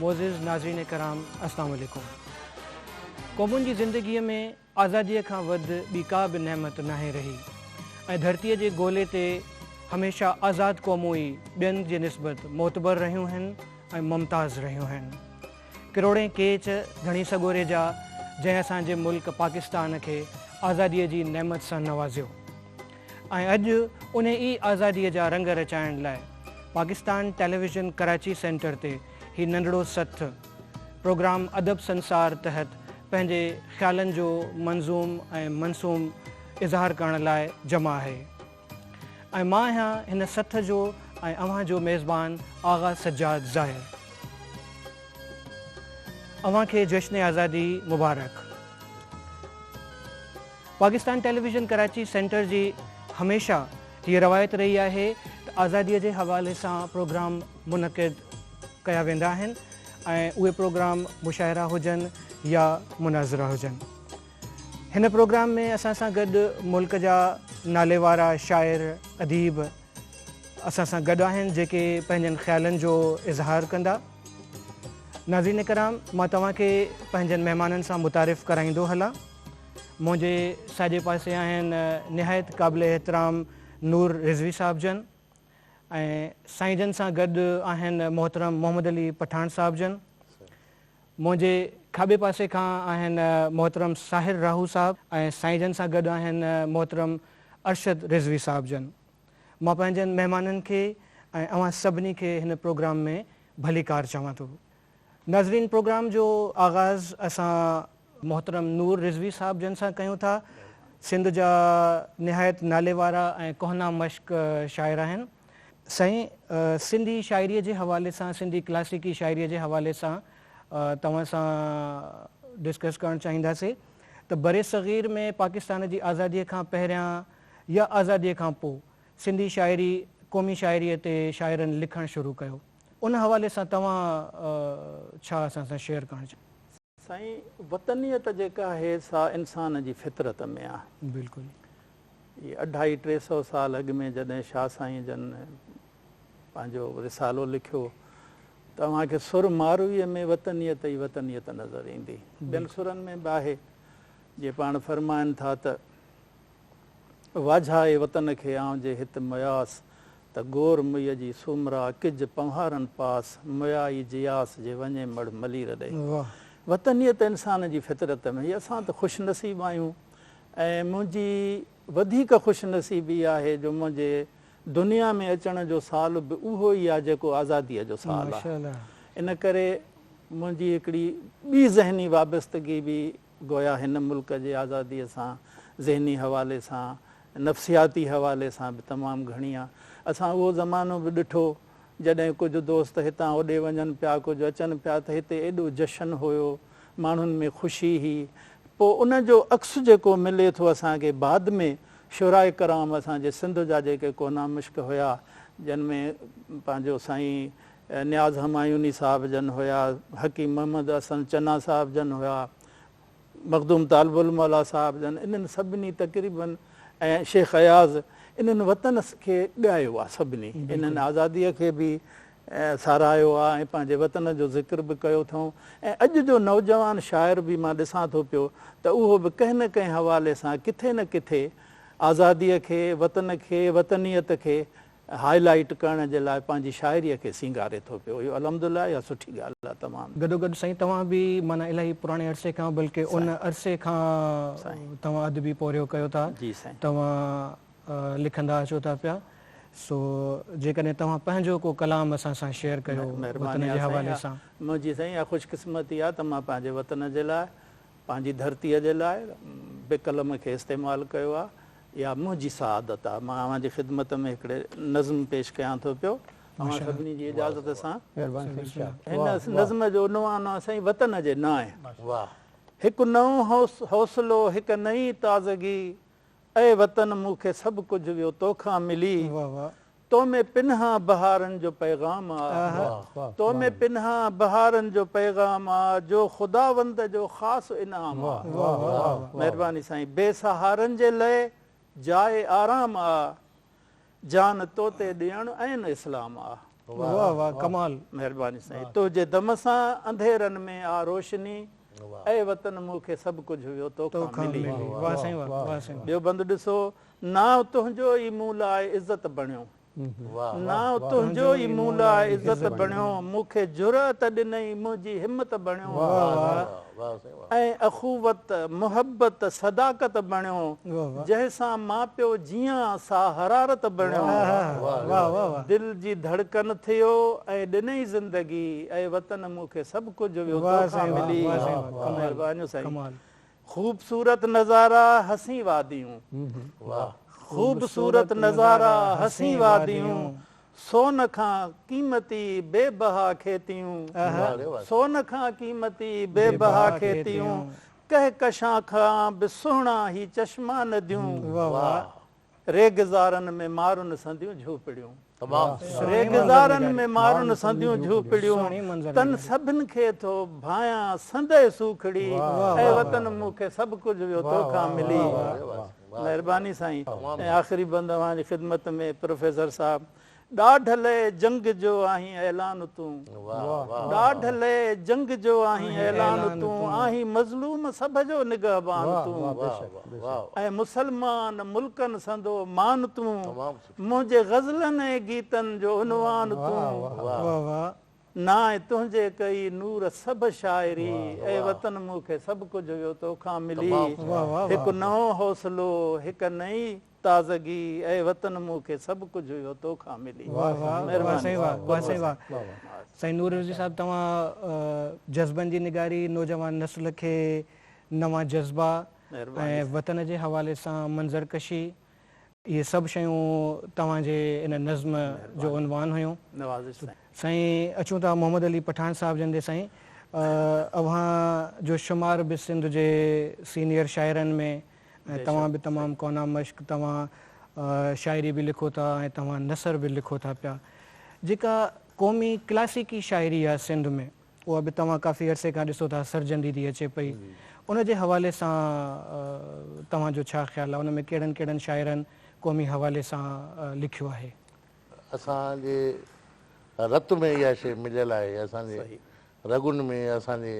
معزز ناظرين ڪرام السلام عليڪم قومن جي زندگي ۾ آزادي کان وڌ ٻي ڪا به نعمت ناهي رهي ۽ ڌرتي جي گولي تي هميشه آزاد قومون ئي ٻين جي نسبت معتبر رهيون آهن ۽ ممتاز رهيون آهن ڪروڙين ڪيچ ڌڻي سڳوري جا جنهن اسان جي ملڪ پاڪستان کي آزادي جي نعمت سان نوازيو ۽ اڄ انهي ئي آزاديء جا رنگ رچائڻ لاء پاڪستان ٽيليويزن ڪراچي سينٽر تي هي ننڍڙو سٿ پروگرام ادب سنسار تحت پنهنجي خيالن جو منظوم ۽ منصوم اظهار ڪرڻ لاء جمع آهي ۽ مان آهيان هن سٿ جو ۽ اوهان جو ميزبان آغا سجاد ظاهر اوهان کي جشن آزادي مبارڪ. پاڪستان ٽيليويزن ڪراچي سينٽر جي هميشه هيء روايت رهي آهي ته آزاديء جي حوالي سان پروگرام منعقد ڪيا ويندا آهن ۽ اهي پروگرام مشاعرا هجن يا مناظرا هجن. هن پروگرام ۾ اسان سان گڏ ملڪ جا ناليوارا شاعر اديب اسان سان گڏ آهن جيڪي پنهنجن خيالن جو اظهار ڪندا. ناظرين ڪرام مان توهان کي پنهنجن مهمانن سان متعارف ڪرائيندو هلان. منهنجي ساڄي پاسي آهن نهايت قابل احترام نور رضوي صاحب جن ۽ سائين جن سان گڏ آهن محترم محمد علي پٺاڻ صاحب جن منهنجي کاٻي پاسي کان آهن محترم ساحر راهو صاحب ۽ سائين جن سان گڏ آهن محترم ارشد رضوي صاحب جن مان پنهنجن مهمانن کي ۽ اوهان سڀني کي هن پروگرام ۾ ڀليڪار چوان ٿو ناظرين پروگرام جو آغاز اسان محترم نور رضوي صاحب جن سان ڪيون ٿا سنڌ جا نهايت نالي وارا ۽ ڪهنا مشق شاعر آهن. سائين سنڌي شاعري جي حوالي سان سنڌي ڪلاسيڪي شاعري جي حوالي سان توهان سان ڊسڪس ڪرڻ چاهينداسي ته برصغير ۾ پاڪستان جي آزادي کان پهريان يا آزادي کان پو سنڌي شاعري قومي شاعري تي شاعرن لکڻ شروع ڪيو ان حوالي سان توهان ڇا اسان سان شيئر ڪرڻ چاهيو ٿا؟ سائين وطنيت جيڪا آهي سا انسان جي فطرت ۾ آ. بلڪل. هي اڍائي ٽي سئو سال اڳ ۾ جڏهن شاهه سائين جن پنهنجو رسالو لکيو ته اوهان کي سر مارويء ۾ وطنيت ئي وطنيت نظر ايندي. ٻين سرن ۾ به آهي جي پاڻ فرمائن ٿا ته. واجهائي وطن کي آئون جي هت مياس، ته گور مئي جي سومرا ڪج پنوهارن پاس، مئائي جياس جي وڃي مڙ ملير ڏي. وطنيت انسان جي فطرت ۾ هي اسان ته خوش نصيب آهيون ۽ منهنجي وڌيڪ خوش نصيبي آهي جو منهنجي دنيا ۾ اچڻ جو سال به اهو ئي آهي جيڪو آزاديء جو سال آهي ان ڪري منهنجي هڪڙي ٻي ذهني وابستگي به گويا هن ملڪ جي آزاديء سان ذهني حوالي سان، نفسياتي حوالي سان به تمام گهڻي آ. اسان اهو زمانو به ڏٺو، جڏهن ڪجهه دوست هتان هوڏي وڃن پيا، ڪجهه اچن پيا ته هتي ايڏو جشن هيو، ماڻهن ۾ خوشي هئي. پوء ان جو عڪس جيڪو ملي ٿو اسان کي بعد ۾، شعراء ڪرام اسان جي سنڌ جا جيڪي ڪونا مشڪ هيا، جن ۾ پنهنجو سائين نياز همايوني صاحب جن هيا، حڪيم محمد احسن چنا صاحب جن هيا، مخدوم طالب الموليٰ صاحب جن، انهن سڀني تقريبن ۽ شيخ اياز انهن وطن کي ڳايو آهي سڀني، انهن آزاديء کي به ساراهيو آهي ۽ پنهنجي وطن جو ذڪر به ڪيو اٿئون ۽ اڄ جو نوجوان شاعر به مان ڏسان ٿو پيو ته اهو به ڪنهن نه ڪنهن حوالي سان ڪٿي نه ڪٿي آزاديء کي، وطن کي، وطنيت کي هاء لائيٽ ڪرڻ جي لاء پنهنجي شاعري کي سينگاري ٿو پيو اهو الحمدلله يا سٺي ڳالهه آهي تمام. گڏوگڏ سائين توهان به معنيٰ الاهي پراڻي عرصي کان بلڪه ان عرصي کان توهان ادبي پورهيو ڪيو ٿا توهان لکندا اچو ٿا پيا سو جيڪڏهن توهان پنهنجو ڪو ڪلام اسان سان شيئر ڪيو وطن جي حوالي سان. منهنجي سائين اها خوش قسمتي آهي ته مان پنهنجي وطن جي لاء پنهنجي ڌرتي جي لاء به قلم کي استعمال ڪيو آهي اها منهنجي سعادت آهي. مان اوهان جي خدمت ۾ هڪڙي نظم پيش ڪيان ٿو پيو. اوهان سڀني جي اجازت سان. هن نظم جو عنوان آهي سائين وطن جي نانء. هڪ نئون حوصلو هڪ نئين تازگي. اي وطن مون کي سڀ ڪجهه ويو توکان ملي. تو ۾ پنهان بهارن جو پيغام آ تو ۾ پنهان بهارن جو پيغام آ جو خداوند جو خاص انعام آ مهرباني سائين بي سهارن جي لئه جاء آرام آ جان تو تي ڏيڻ عين اسلام آ مهرباني سائين تنهنجي دم سان انڌيرن ۾ آ روشني اي وطن مون کي سڀ ڪجهه ويو تو کان ملي ٻيو بند ڏسو نانء تنهنجو ئي مون لاء عزت بڻيو. نانء تنهنجو ئي مون لاء عزت بڻيو. مون کي جرئت ڏنئي منهنجي همت بڻيو. ۽ اخوت، محبت، صداقت بڻيو. جنهن سان مان پيو جيئان سا حرارت بڻيو. دل جي ڌڙڪن ٿيو ۽ ڏنئي زندگي. اي وطن مون کي سڀ ڪجهه ويو توکان ملي. مهربانيون سائين. خوبصورت نظارا حسين واديون واھ خوبصورت نظارا حسين واديون سون کان قيمتي بي بها کيتيون سون کان قيمتي بي بها کيتيون ڪهڪشان کان به سهڻا هي چشما نديون واھ ريگزارن ۾ مارون سنديون جهوپڙيون. ريگزارن ۾ مارون سنديون جهوپڙيون. تن سڀن کي ٿو ڀانئيان سندء سوکڙي. اي وطن مون کي سڀ ڪجهه ويو تو کان ملي. مهرباني سائين ۽ آخري بند اوهان جي خدمت ۾ پروفيسر صاحب. ڏاڍ لئه جنگ جو آهين اعلان تون ڏاڍ لئه جنگ جو آهين اعلان تون آهين مظلوم سڀ جو نگهبان تون ۽ مسلمان ملڪن سندو مان تون منهنجي غزلن ۽ گيتن جو عنوان تون نانء تنهنجي ڪئي نور سڀ شاعري اي وطن مون کي سڀ ڪجهه هيو توکان ملي هڪ نئون حوصلو هڪ نئين تازگي، اي وطن مون کي سڀ ڪجهه اهو تو کان ملي. واھ واھ واھ سائين واھ واھ سائين واھ سائين نور الهدي صاحب توهان جذبن جي نگاري نوجوان نسل کي نوان جذبا ۽ وطن جي حوالي سان منظر ڪشي اهي سڀ شيون توهان جي ان نظم جو عنوان هيون سائين اچون ٿا محمد علي پٺاڻ صاحب جن ڏي سائين اوهان جو شمار به سنڌ جي سينيئر شاعرن ۾ ۽ توهان به تمام ڪونا مشق توهان شاعري به لکو ٿا ۽ توهان نثر به لکو ٿا پيا جيڪا قومي ڪلاسيڪي شاعري آهي سنڌ ۾ اها به توهان ڪافي عرصي کان ڏسو ٿا سرجندي ٿي اچي پئي ان جي حوالي سان توهان جو ڇا خيال آهي ان ۾ ڪهڙن ڪهڙن شاعرن قومي حوالي سان لکيو آهي اسان جي رت ۾ اها شيء مليل آهي اسان جي رڳن ۾ اسان جي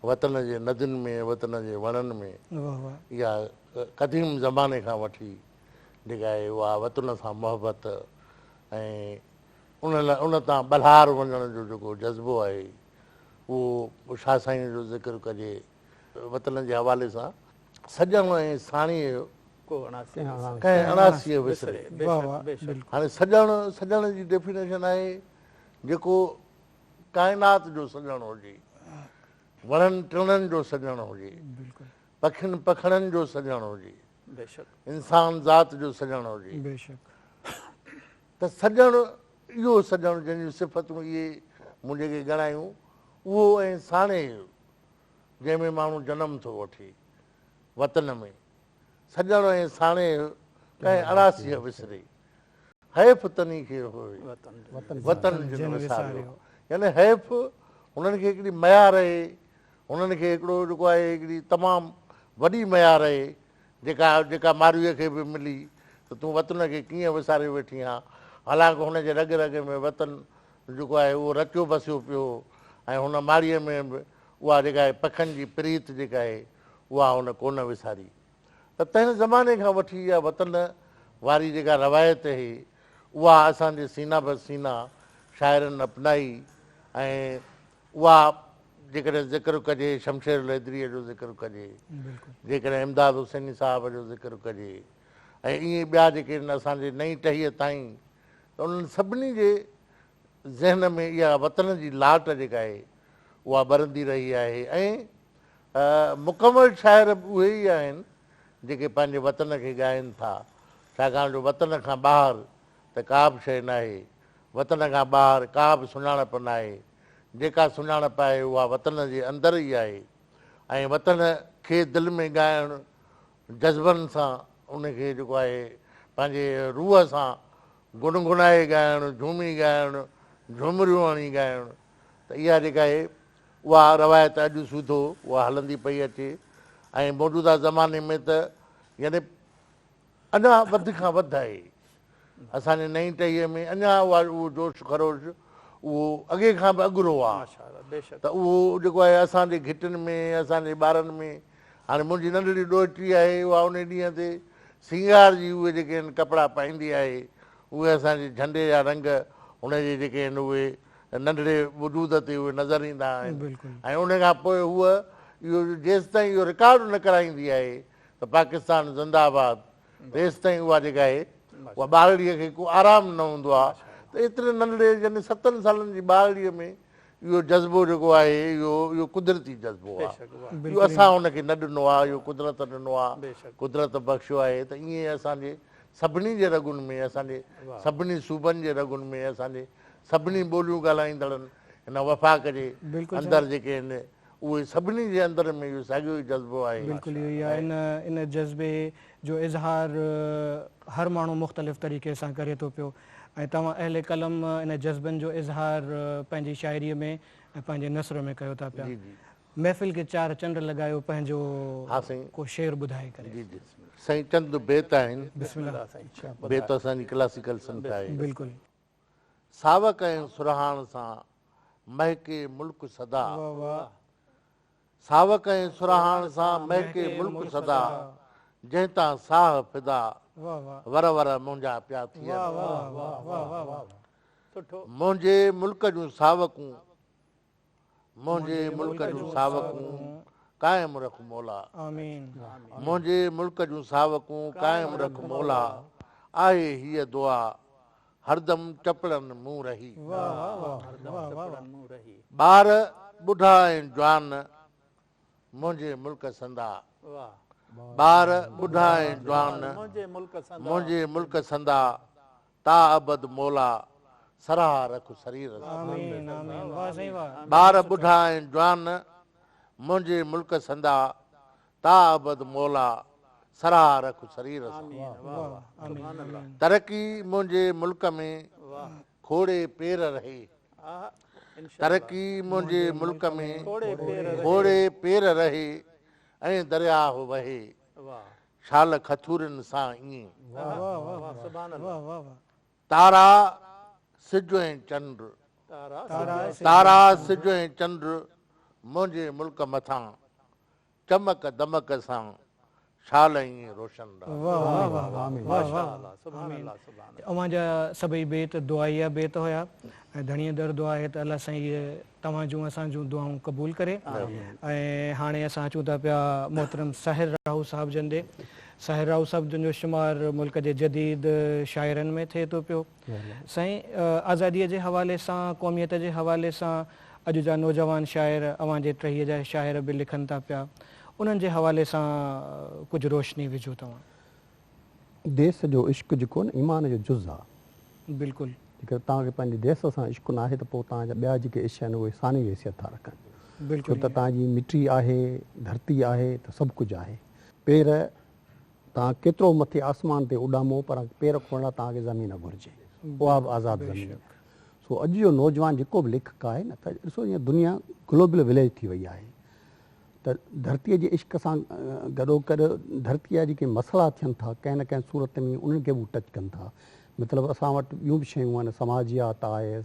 وطن جي ندين ۾، وطن جي وڻن ۾، يا قديم زماني کان وٺي جيڪا آهي اها وطن سان محبت ۽ ان ان تان ٻلهار وڃڻ جو جيڪو جذبو آهي اهو شاهه سائينء جو ذڪر ڪجي وطن جي حوالي سان سڄڻ ۽ ساڻيهه جو ڪنهن اڻاسي وسري. هاڻي سڄڻ، سڄڻ جي ڊيفينيشن آهي جيڪو ڪائنات جو سڄڻ هجي، وڻن ٽڻن جو سڄڻ هجي، پکين پکڻين جو سڄڻ هجي، انسان ذات جو سڄڻ هجي ته سڄڻ اهو سڄڻ جنهن جون صفتون اهي مون جيڪي ڳڻايون اهو ۽ ساڻي اهو جنهن ۾ ماڻهو جنم ٿو وٺي وطن ۾، سڄڻ ۽ ساڻيهه ڪنهن اڙاسيء وسري. حيف تني کي هوء وطن جن وساريو. يعني حيف هنن کي هڪڙي ميار اهي، هنن کي هڪڙو جيڪو آهي هڪڙي تمام وڏي ميار اهي جيڪا جيڪا مارويء کي به ملي ته تون وطن کي ڪيئن وساري ويٺي آن. حالانڪ هن جي رڳ رڳ ۾ وطن جيڪو آهي اهو رچيو بسيو پيو هو ۽ هن ماڙيء ۾ به اها جيڪا آهي پکن جي پريت جيڪا آهي اها هن ڪونه وساري ته تنهن زماني کان وٺي اها وطن واري جيڪا روايت اهي اها اسان جي سينا به سينا شاعرن اپنائي ۽ اها جيڪڏهن ذڪر ڪجي شمشير لهدريء جو ذڪر ڪجي جيڪڏهن امداد حسيني صاحب جو ذڪر ڪجي ۽ ايئن ٻيا جيڪي اسان جي نئين ٽهيء تائين ته انهن سڀني جي ذهن ۾ اها وطن جي لاٽ جيڪا آهي اها ٻرندي رهي آهي ۽ مڪمل شاعر به اهي ئي آهن جيڪي پنهنجي وطن کي ڳائين ٿا ڇاڪاڻ جو وطن کان ٻاهر ته ڪا به شيء ناهي وطن کان ٻاهر ڪا به سڃاڻپ ناهي جيڪا سڃاڻپ آهي اها وطن جي اندر ئي آهي ۽ وطن کي دل ۾ ڳائڻ جذبن سان ان کي جيڪو آهي پنهنجي روح سان گنگنائي ڳائڻ، جهومي ڳائڻ، جهومريون هڻي ڳائڻ ته اها جيڪا هي اها روايت اڄ سوڌو اها هلندي پئي اچي ۽ موجوده زماني ۾ ته يعني اڃا وڌ کان وڌ آهي اسان جي نئين ٽهيء ۾ اڃا اها اهو جوش خروش اهو اڳي کان به اڳرو آهي ته اهو جيڪو آهي اسان جي گهٽين ۾ اسان جي ٻارن ۾ هاڻي منهنجي ننڍڙي ڏوهٽي آهي، اها انهي ڏينهن تي سينگار جي اهي جيڪي هن ڪپڙا پائيندي آهي، اهي اسان جي جهنڊي جا رنگ هن جي جيڪي هن اهي ننڍڙي وجود تي اهي نظر ايندا آهن ۽ انهي کان پوء هوء اهو جيستائين اهو رڪارڊ نه ڪرائيندي آهي ته پاڪستان زنده آباد تيستائين اها جيڪا آهي اها ٻارڙي کي ڪو آرام نه هوندو آهي ته ايتري ننڍڙي يعني ستن سالن جي ٻارڙي ۾ اهو جذبو جيڪو آهي اهو اهو قدرتي جذبو آهي اهو اسان ان کي نه ڏنو آهي اهو قدرت ڏنو آهي قدرت بخشيو آهي ته ائين اسان جي سڀني جي رڳن ۾ اسان جي سڀني صوبن جي رڳن ۾ اسان جي سڀني ٻوليون ڳالهائيندڙن هن وفاق جي اندر جيڪي آهن اهي سڀني جي اندر ۾ اهو ساڳيو ئي جذبو آهي. بلڪل اهو ئي آهي ۽ ان جذبي جو اظهار هر ماڻهو مختلف طريقي سان ڪري ٿو پيو ۽ توهان اهل قلم ان جذبن جو اظهار پنهنجي شاعري ۾ ۽ پنهنجي نثر ۾ ڪيو ٿا پيا. محفل کي چار چنڊ لڳايو پنهنجو ڪو شعر ٻڌائي ڪري. جي جي سائين چند بيت آهن. بسم الله سائين. بيت اسان جي ڪلاسيڪل سنٿ آهي. بلڪل. ساوڪ ۽ سرهاڻ سان مهڪي ملڪ سدا. ساوڪ ۽ سرهاڻ سان مهڪي ملڪ سدا، جنهن تان ساهه فدا، ور ور منهنجا پيا ٿين. منهنجي ملڪ جون ساوڪون. منهنجي ملڪ جون ساوڪون قائم رک مولا. منهنجي ملڪ جون ساوڪون قائم رک مولا آهي هيء دعا هردم ٽپڙن مون رهي. ٻار ٻڍا ۽ جوان منهنجي ملڪ سندا. ٻار ٻڍا ۽ جوان منهنجي ملڪ سندا تا ابد مولا سرها رک سرير سان. ٻار ٻڍا ۽ جوان منهنجي ملڪ سندا تا ابد مولا سرها رک سرير سان. ترقي منهنجي ملڪ ۾ کوڙي پير رهي ترقي منهنجي ملڪ ۾ کوڙي پير رهي ۽ درياهه وهي شال کٿورين سان ائين تارا سج ۽ چنڊ تارا سج ۽ چنڊ منهنجي ملڪ مٿان چمڪ دمڪ سان شال ائين روشن اوهان جا سڀئي بيت دعائيه بيت هيا ۽ ڌڻيء در دعا هي ته الله سائين هيء توهان جون اسان جون دعائون قبول ڪري ۽ هاڻي اسان اچون ٿا پيا محترم ساحر راهو صاحب جن ڏي ساحر راهو صاحب جن جو شمار ملڪ جي جديد شاعرن ۾ ٿئي ٿو پيو سائين آزادي جي حوالي سان قوميت جي حوالي سان اڄ جا نوجوان شاعر اوهان جي ٽهي جا شاعر به لکن ٿا پيا انهن جي حوالي سان ڪجهه روشني وجهو توهان. ديس جو عشق جيڪو نه ايمان جو جز آ. بلڪل. جيڪڏهن توهان کي پنهنجي ديس سان عشق ناهي ته پوء توهان جا ٻيا جيڪي عشق آهن اهي ثانوي حيثيت ٿا رکن. بلڪل. ڇو ته توهان جي مٽي آهي، ڌرتي آهي ته سڀ ڪجهه آهي. پير، توهان ڪيترو مٿي آسمان تي اڏامو پر پير کوڙڻ لاء توهان کي زمين گهرجي. اها به آزاد زمين. سو اڄ جو نوجوان جيڪو به ليکڪ آهي نه ته ڏسو جيئن دنيا گلوبل وليج ٿي وئي آهي. ته ڌرتيء جي عشق سان گڏوگڏ ڌرتيء جا جيڪي مسئلا ٿين ٿا ڪنهن نه ڪنهن صورت ۾ انهن کي به هو ٽچ ڪن ٿا مطلب اسان وٽ ٻيون به شيون آهن سماجيات آهي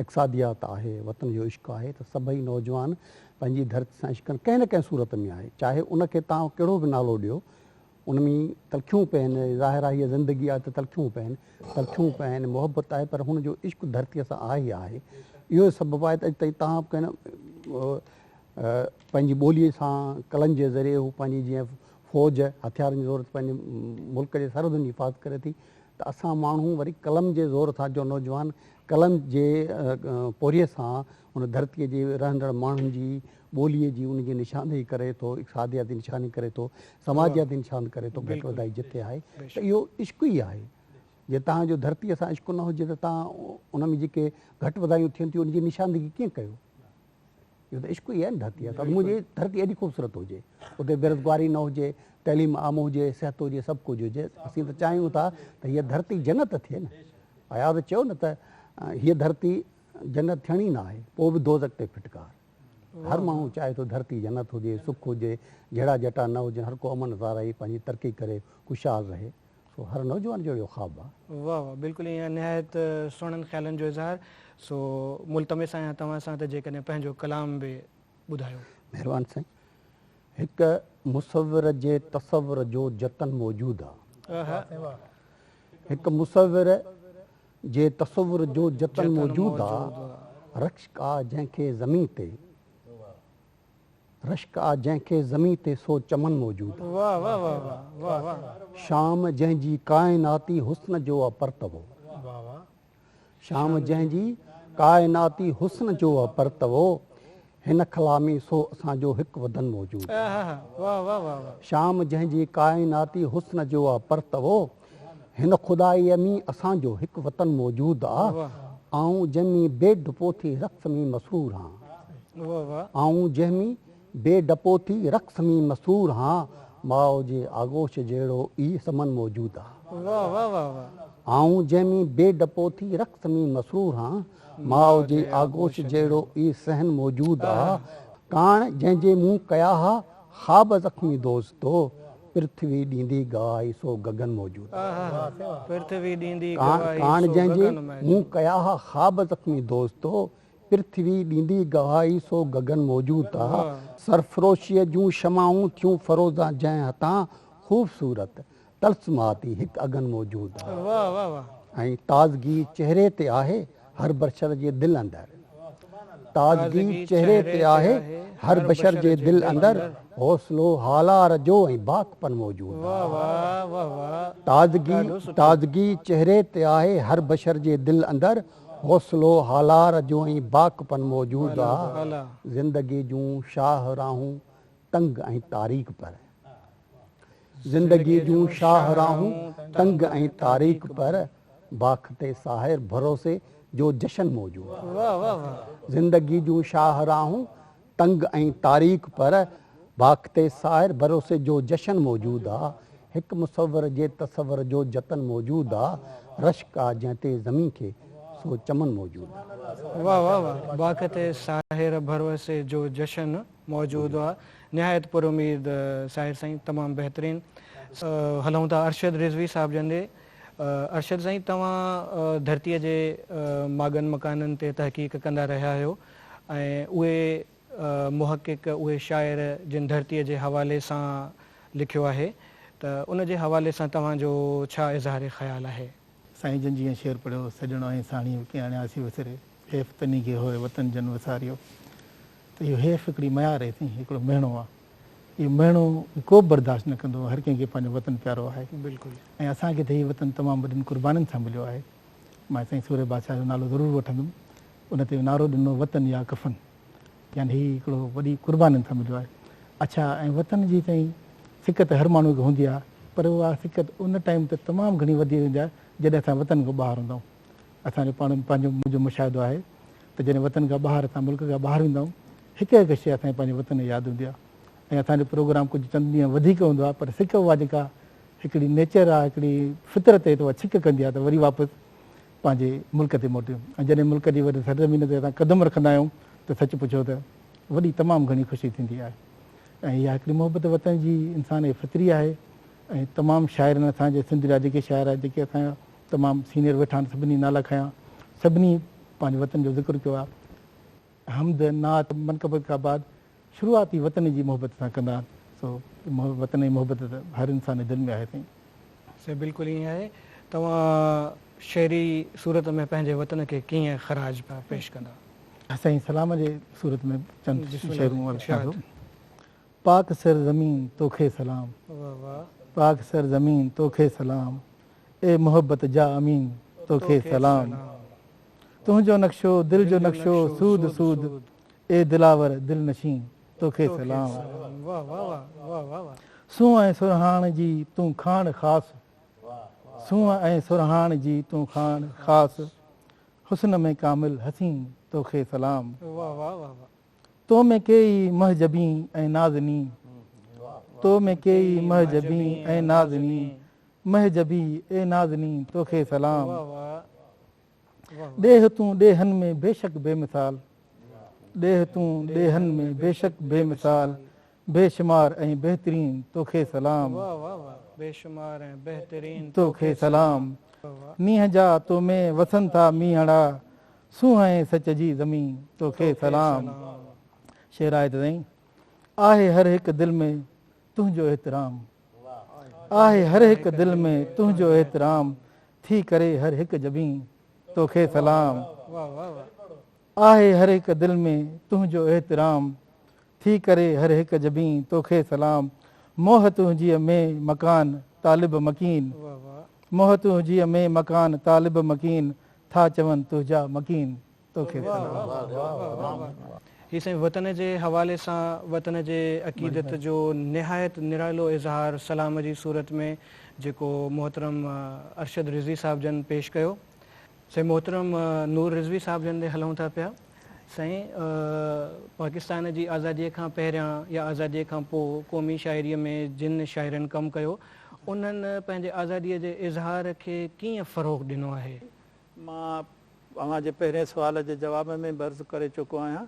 اقصاديات آهي وطن جو عشق آهي ته سڀئي نوجوان پنهنجي ڌرتي سان عشق ڪن ڪنهن نه ڪنهن صورت ۾ آهي چاهي ان کي تان ڪهڙو به نالو ڏيو ان ۾ تلخيون پين ظاهر آهي هيء زندگي آهي ته تلخيون پين تلخيون پين محبت آهي پر هن جو عشق ڌرتيء سان آهي ئي آهي اهو سبب آهي ته اڄ تائين تان ڪنهن پنهنجي ٻوليء سان قلم جي ذريعي هو پنهنجي جيئن فوج هٿيارن جي زور تي پنهنجي ملڪ جي سرحدن جي حفاظت ڪري ٿي ته اسان ماڻهو وري قلم جي زور سان جو نوجوان قلم جي پورهيي سان ان ڌرتيء جي رهندڙ ماڻهن جي ٻوليء جي ان جي نشاندهي ڪري ٿو، اقتصادياتي نشاندهي ڪري ٿو، سماجياتي نشاندهي ڪري ٿو گهٽ وڌائي جتي آهي ته اهو عشق ئي آهي. جي توهان جو ڌرتيء سان عشق نه هجي ته توهان ان ۾ جيڪي گهٽ وڌايون ٿين ٿيون ان جي نشاندهي ڪيئن ڪيو؟ اهو ته عشق ئي آهي نه ڌرتيء سان منهنجي ڌرتي ايڏي خوبصورت هجي اتي بيروزگاري نه هجي تعليم عام هجي صحت هجي سڀ ڪجهه هجي اسين ته چاهيون ٿا ته هيء ڌرتي جنت ته ٿئي نه اياز چيو نه ته هيء ڌرتي جنت ٿيڻي نه آهي پوء به دوزخ تي ڦٽڪار هر ماڻهو چاهي ٿو ڌرتي جنت هجي سک هجي جهيڙا جهٽا نه هجن هر ڪو امن زارعي پنهنجي ترقي ڪري خوشحال رهي سو هر نوجوان جو اهو خواب آ. واھ واھ بلڪل ايئن نهايت سهڻن خيالن جو اظهار سو ملتمس آهيان توهان سان ته جيڪڏهن پنهنجو ڪلام به ٻڌايو. مهربان سائين هڪ مصور جي تصور جو جتن موجود آ. واھ سائين واھ. هڪ مصور جي تصور جو جتن موجود آ رخش ڪا جنهن کي زمين تي. رشڪ آ جنهن کي زمين تي سو چمن موجود آ. شام جنهن جي ڪائناتي حسن جو آ پرتوو. شام جنهن جي ڪائناتي حسن جو آ پرتوو. هن خلا ۾ سو اسان جو هڪ وڌن موجود آ. شام جنهن جي ڪائناتي حسن جو آ پرتوو. هن خدائيء ۾ اسان جو هڪ وطن موجود آ، آئون جنهن ۾ بي ڊپو ٿي رقص ۾ مسرور هان. آئون جنهن ۾ بي ڊپو ٿي رقص ۾ مسرور هان، ماء جي آغوش جهڙو ئي سمن موجود آ. آئون جنهن ۾ بي ڊپو ٿي رقص ۾ مسرور هان، ماء جي آغوش جهڙو ئي صحن موجود آ. ڪاڻ جنهن جي مون ڪيا ها خواب زخمي دوستو، پرٿوي ڏيندي گواهي سو گگن موجود آهي. ڪاڻ جنهن جي مون ڪيا ها خواب زخمي دوستو پرٿوي ڏيندي گواهي سو گگن موجود آهي. سرفروشيء جون شمعون ٿيون فروزان جنهن هٿان خوبصورت طلسماتي هڪ اگن موجود آهي ۽ تازگي چهري تي آهي. هر بشر جي دل اندر تازگي چهري تي آهي هر بشر جي دل اندر حوصلو هالار جو ۽ باڪ پن موجود آهي تازگي تازگي چهري تي آهي هر بشر جي دل اندر حوصلو هالار جو ۽ باڪ پن موجود آهي زندگي جون شاهه راهون تنگ ۽ تاريڪ پر زندگيء جون شاهه راهون تنگ ۽ تاريڪ پر باک تي ساحر ڀروسي جو جشن موجود زندگيء جون شاهه راهون تنگ ۽ تاريڪ پر باک تي ساحر ڀروسي جو جشن موجود آ هڪ مصور جي تصور جو جتن موجود آ رشڪ آ جنهن تي زمين کي سو چمن موجود آ. واھ واھ واھ باک تي ساحر ڀروسي جو جشن. موجود هئا نهايت پر اميد ساحر سائين تمام بهترين هلون ٿا ارشد رضوي صاحب جن ڏي ارشد سائين توهان ڌرتي جي ماڳن مڪانن تي تحقيق ڪندا رهيا آهيو ۽ اهي محقق اهي شاعر جن ڌرتي جي حوالي سان لکيو آهي ته ان جي حوالي سان توهان جو ڇا اظهار خيال آهي. سائين جن جيئن شعر پڙهيو سڄڻو ۽ ساڻيهه ڪي آڻياسي وسري حيف تني کي هوء وطن جن وساريو. ته اهو حيف هڪڙي ميار اهي سائين هڪڙو مهڻو آ اهو مهڻو ڪوبه برداشت نه ڪندو هر ڪنهن کي پنهنجو وطن پيارو آهي بلڪل ۽ اسان کي ته هي وطن تمام وڏين قربانين سان مليو آهي مان سائين سورهيه بادشاهه جو نالو ضرور وٺندم ان تي نعرو ڏنو وطن يا ڪفن يعني هي هڪڙو وڏي قربانين سان مليو آهي اڇا ۽ وطن جي سائين سڪت هر ماڻهو کي هوندي آ پر اها سڪت ان ٽائيم ته تمام گهڻي وڌي ويندي آ جڏهن اسان وطن کان ٻاهر هوندا آهون اسان جو پاڻ پنهنجو منهنجو مشاهدو آهي ته جڏهن وطن کان ٻاهر اسان ملڪ کان ٻاهر ويندا آهيون هڪ هڪ شيء اسان کي پنهنجي وطن جي ياد هوندي آهي ۽ اسان جو پروگرام ڪجهه چند ڏينهن وڌيڪ هوندو آهي پر سڪ اها جيڪا هڪڙي نيچر آهي هڪڙي فطرت هي ته اها سڪ ڪندي آهي ته وري واپس پنهنجي ملڪ تي موٽيون ۽ جڏهن ملڪ جي وري سرزمين تي اسان قدم رکندا آهيون ته سچ پڇو ته وڏي تمام گهڻي خوشي ٿيندي آهي ۽ اها هڪڙي محبت وطن جي انسان جي فطري آهي ۽ تمام شاعرن اسان جي سنڌ جا جيڪي شاعر آهن جيڪي اسان جا تمام سينئر ويٺا آهن سڀني نالا کنيا سڀني پنهنجي وطن جو ذڪر ڪيو آهي حمد نعت منقبت کان بعد شروعات ئي وطن جي محبت سان ڪندا آهن سو وطن جي محبت ته هر انسان جي دل ۾ آهي سائين. سائين بلڪل ائين آهي توهان شعري صورت ۾ پنهنجي وطن کي ڪيئن خراج پيا پيش ڪندا. سائين سلام جي صورت ۾ چند شعرون ارپڻ ڪندو. پاڪ سر زمين توکي سلام. پاڪ سر زمين توکي سلام. اي محبت جا امين توکي سلام. تنهنجو نقشو دل جو نقشو سود سود اي دلاور دل نشين توکي سلام. سونهن ۽ سرهاڻ جي تون کاڻ خاص. سونهن ۽ سرهاڻ جي تون کاڻ خاص. حسن ۾ ڪامل حسين توکي سلام. تو ۾ ڪي ئي مه جبين ۽ نازنين تو ۾ ڪي ئي مه جبين ۽ نازنين مه جبي اي نازنين توکي سلام ڏيهه تون ڏيهن ۾ بيشڪ بي مثال ڏيهه تون ڏيهن ۾ بيشڪ بي مثال بي شمار ۽ بهترين توکي سلام. واهه واهه واهه بي شمار ۽ بهترين توکي سلام. نينهن جا تو ۾ وسن ٿا مينهڙا سونهن سچ جي زمين توکي سلام. شعر آهي ته سائين آهي هر هڪ دل ۾ تنهنجو احترام آهي هر هڪ دل ۾ تنهنجو احترام ٿي ڪري هر هڪ جبين توکي سلام. واهه واهه واهه آهي هر هڪ دل ۾ تنهنجو احترام ٿي ڪري هر هڪ جبين توکي سلام موهه تنهنجيء ۾ مڪان طالب مڪين موهه تنهنجيء ۾ مڪان طالب مڪين ٿا چون تنهنجا مڪين توکي سلام. هي سائين وطن جي حوالي سان وطن جي عقيدت جو نهايت نرالو اظهار سلام جي صورت ۾ جيڪو محترم ارشد رضوي صاحب جن پيش ڪيو. سائين محترم نور رضوي صاحب جن ڏي هلون ٿا پيا سائين پاڪستان جي آزادي کان پهريان يا آزادي کان پو قومي شاعري ۾ جن شاعرن ڪم ڪيو انهن پنهنجي آزادي جي اظهار کي ڪيئن فروغ ڏنو آهي؟ مان اوهان جي پهرين سوال جي جواب ۾ به عرض ڪري چڪو آهيان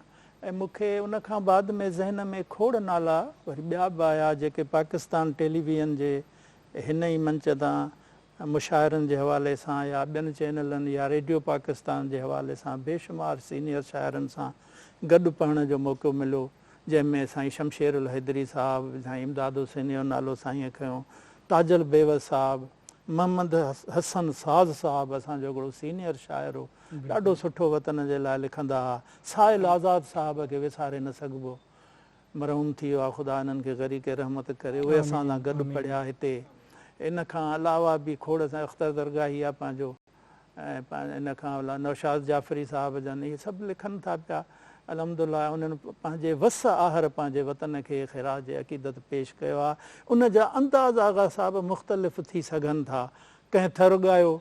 ۽ مون کي ان کان بعد ۾ ذهن ۾ کوڙ نالا وري ٻيا به آيا جيڪي پاڪستان ٽيليويزن جي هن ئي منچ تان مشاعرن جي حوالي سان يا ٻين چينلن يا ريڊيو پاڪستان جي حوالي سان بي شمار سينيئر شاعرن سان گڏ پڙهڻ جو موقعو مليو جنهن ۾ سائين شمشير الحيدري صاحب، سائين امداد حسيني جو نالو سائينء کنيو، تاج البيوس صاحب، محمد حسن ساز صاحب اسان جو هڪڙو سينيئر شاعر هو ڏاڍو سٺو وطن جي لاء لکندا ها، سائل آزاد صاحب کي وساري نه سگهبو مرحوم ٿي ويا خدا انهن کي غريق رحمت ڪري اهي اسان سان گڏ پڙهيا هتي ان کان علاوه به کوڙ سان اختر درگاهي آ پنهنجو ۽ ان کان علاوه نوشاد جعفري صاحب جن اهي سڀ لکن ٿا پيا الحمدالله انهن پنهنجي وس آهر پنهنجي وطن کي خراج عقيدت پيش ڪيو آ ان جا انداز آغا صاحب مختلف ٿي سگهن ٿا ڪنهن ٿر ڳايو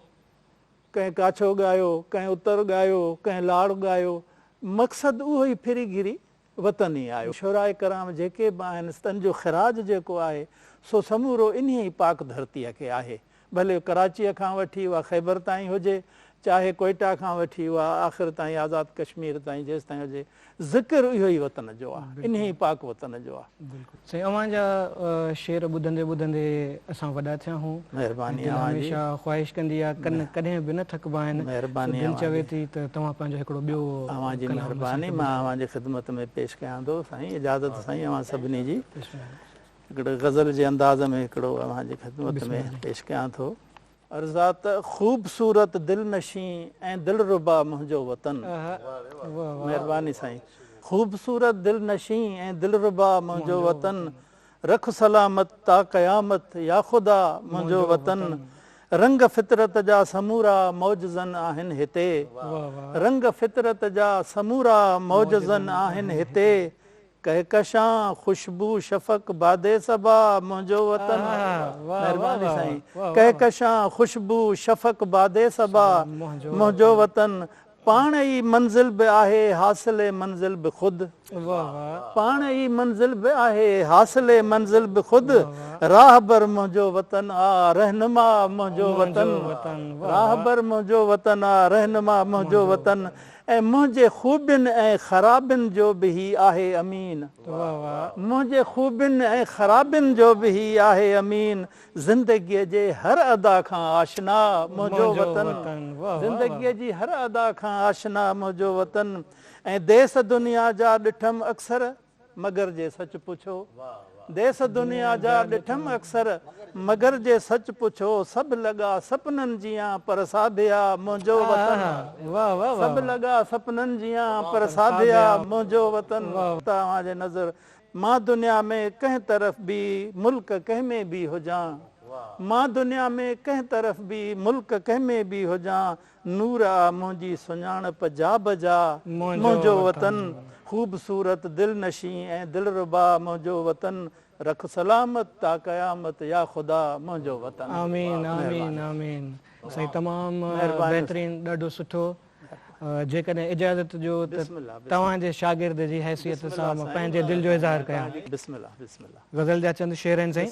ڪنهن ڪاڇو ڳايو ڪنهن اتر ڳايو ڪنهن لاڙ ڳايو مقصد اهو ئي ڦري گهري وطن ئي آهي. شهراء ڪرام جيڪي به آهن تن جو خراج جيڪو آهي سو سمورو انهيء ئي پاڪ ڌرتيء کي آهي. ڀلي ڪراچيء کان وٺي اها خيبر تائين هجي، چاهي ڪوئيٽا کان وٺي اها آخر تائين آزاد ڪشمير تائين جيستائين هجي، ذڪر اهو ئي وطن جو آهي، انهيء ئي پاڪ وطن جو آهي. سائين اوهان جا شعر ٻڌندي ٻڌندي اسان وڏا ٿيا هون مهرباني اوهان جي دل هميشه خواهش ڪندي آ ڪن ڪڏهن به نه ٿڪبا آهن مهرباني دل اوهان چوي جي ٿي ته توهان پنهنجو هڪڙو ٻيو اوهان جي ڪلام اسان مهرباني کي مان ٻڌايو اوهان جي خدمت ۾ پيش ڪيان ٿو سائين اجازت سائين اوهان سڀني جي بسم الله هڪڙي غزل جي انداز ۾ هڪڙو اوهان جي خدمت بسم ۾ الله پيش ڪيان ٿو. ارزاق خوبصورت دلنشين ۽ دلربا منهنجو وطن. مهرباني سائين خوبصورت دلنشين ۽ دلربا منهنجو وطن رک سلامت تا قيامت يا خدا منهنجو وطن رنگ فطرت جا سمورا معجزن آهن هتي رنگ فطرت جا سمورا معجزن آهن هتي ڪهڪشان خوشبو شفق باد صبا منهنجو وطن مهرباني سائين ڪهڪشان خوشبو شفق باد صبا منهنجو وطن پاڻ ئي منزل به آهي حاصل منزل به خود پاڻ ئي منزل به آهي حاصل منزل به خود راهبر منهنجو وطن آ رهنما منهنجو وطن راهبر منهنجو وطن آ رهنما منهنجو وطن ۽ منهنجي خوبين ۽ خرابين جو به هي آهي امين. منهنجي خوبين ۽ خرابين جو به هي آهي امين زندگيء جي هر ادا کان آشنا منهنجو وطن زندگيء جي هر ادا کان آشنا منهنجو وطن ۽ ديس دنيا جا ڏٺم اڪثر مگر جي سچ پڇو ديس دنيا جا ڏٺم اڪثر مگر جي سچ پڇو سڀ لڳا سپنن جيان پر ساڀيا منهنجو وطن سڀ لڳا سپنن جيان پر ساڀيا منهنجو وطن توهان جي نظر مان دنيا ۾ ڪنهن طرف به ملڪ ڪنهن ۾ به هجان مان دنيا ۾ ڪنهن طرف به ملڪ ڪنهن ۾ به هجان نور آ منهنجي سڃاڻپ جا به جا منهنجو وطن خوبصورت دلنشين ۽ دلربا منهنجو وطن رک سلامت تا قيامت يا خدا منهنجو وطن آمين آمين آمين سائين تمام بهترين ڏاڍو سٺو جيڪڏهن اجازت ڏيو ته توهان جي شاگرد جي حيثيت سان مان پنهنجي دل جو اظهار ڪيان غزل جا چند شعر آهن سائين.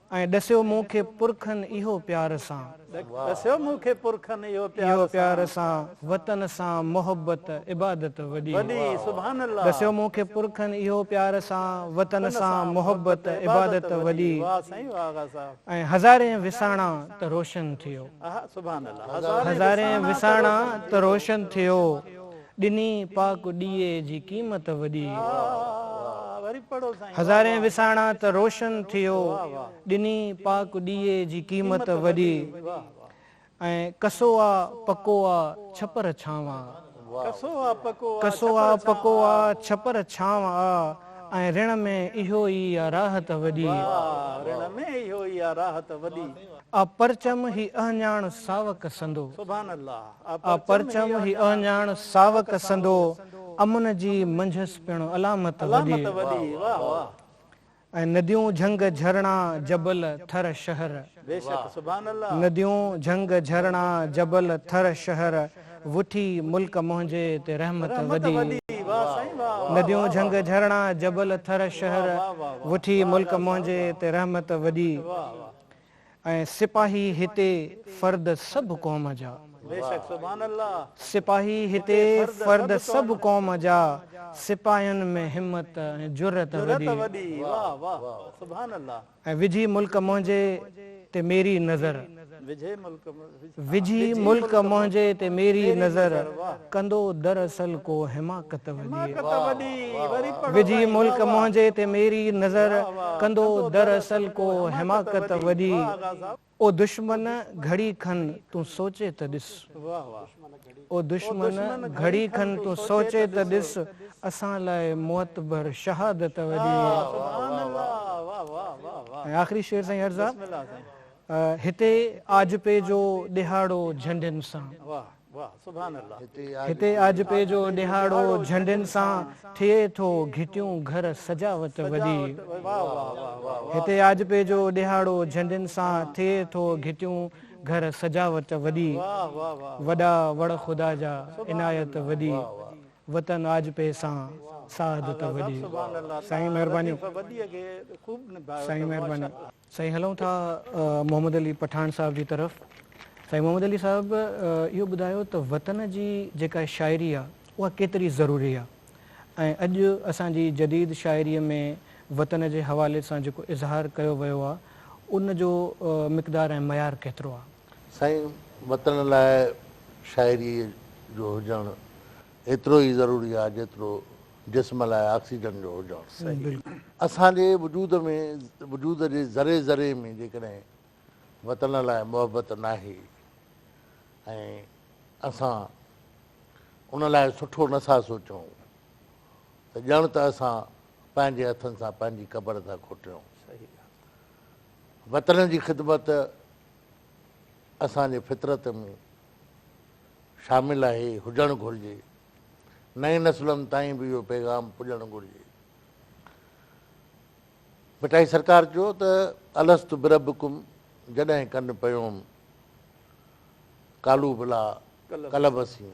۽ ڏسيو مون کي پرکن اهو پيار سان. ڏسيو مون کي پرکن اهو پيار سان. اهو پيار سان، وطن سان محبت عبادت وڏي. وڏي سبحان الله. ڏسيو مون کي پرکن اهو پيار سان، وطن سان محبت عبادت وڏي. واھ سائين واھ آغا صاحب. ۽ هزارين وساڻا ته روشن ٿيو. اها سبحان الله. هزارين وساڻا ته روشن ٿيو. ڏني پاڪ ڏيئي جي قيمت وڏي. هزارين وساڻا ته روشن ٿيو. ڏني پاڪ ڏيئي جي قيمت وڏي. ۽ ڪسو آ پڪو آ ڇپر ڇانو آ. ڪسو آ پڪو آ ڇپر ڇانو آ. ۽ رڻ ۾ اهو ئي آ راحت وڏي. رڻ ۾ اهو ئي آ راحت وڏي. آ پرچم هي اهڃاڻ ساوڪ سندو. آ پرچم هي اهڃاڻ ساوڪ سندو، امن جي منجهس پڻ علامت وڏي. ۽ نديون جهنگ جهرڻا جبل ٿر شهر. نديون جهنگ جهرڻا جبل ٿر شهر، وٺي ملڪ منهنجي تي رحمت وڏي. نديون جهنگ جهرڻا جبل ٿر شهر، وٺي ملڪ منهنجي تي رحمت وڏي. ۽ سپاهي هتي فرد سڀ قوم جا. سپاهي هتي فرد سڀ قوم جا سپاهين ۾ همت ۽ جرئت وڏي ۽ وجهي ملڪ منهنجي تي ميري نظر. وجهي ملڪ منهنجي تي ميري نظر ڪندو در اصل ڪو حماقت وڏي وجهي ملڪ منهنجي تي ميري نظر ڪندو در اصل ڪو حماقت وڏي او دشمن گهڙي کن تون سوچي ته ڏس او دشمن گهڙي کن تون سوچي ته ڏس اسان لاء معتبر شهادت وڏي ۽ آخري شعر سائين عرض آ. هتي آجپي جو ڏهاڙو جهنڊين سان. هتي آجپي جو ڏهاڙو جهنڊين سان ٿئي ٿو گهٽيون گهر سجاوت وڏي. هتي آجپي جو ڏهاڙو جهنڊين سان ٿئي ٿو گهٽيون گهر سجاوت وڏي. وڏا وڙ خدا جا عنايت وڏي. وطن آجپي سان سعادت وڏي. سائين مهرباني. سائين مهرباني. سائين هلون ٿا محمد علي پٺاڻ صاحب جي طرف سائين محمد علي صاحب اهو ٻڌايو ته وطن جي جيڪا شاعري آ اها ڪيتري ضروري آ ۽ اڄ اسان جي جديد شاعري ۾ وطن جي حوالي سان جيڪو اظهار ڪيو ويو آ ان جو مقدار ۽ معيار ڪيترو آ. سائين وطن لاء شاعري جو هجڻ ايترو ئي ضروري آ جيترو جسم لاء آڪسيجن جو هجڻ صحيح. اسان جي وجود ۾ وجود جي ذري ذري ۾ جيڪڏهن وطن لاء محبت ناهي ۽ اسان ان لاء سٺو نه ٿا سوچون ته ڄڻ ته اسان پنهنجي هٿن سان پنهنجي قبر ٿا کوٽيون. وطن جي خدمت اسان جي فطرت ۾ شامل آهي، هجڻ گهرجي. نئين نسلن تائين به اهو پيغام پڄڻ گهرجي. ڀٽائي سرڪار چيو ته الست بربڪم جڏهن ڪن پيوم قالو بلا قلبسين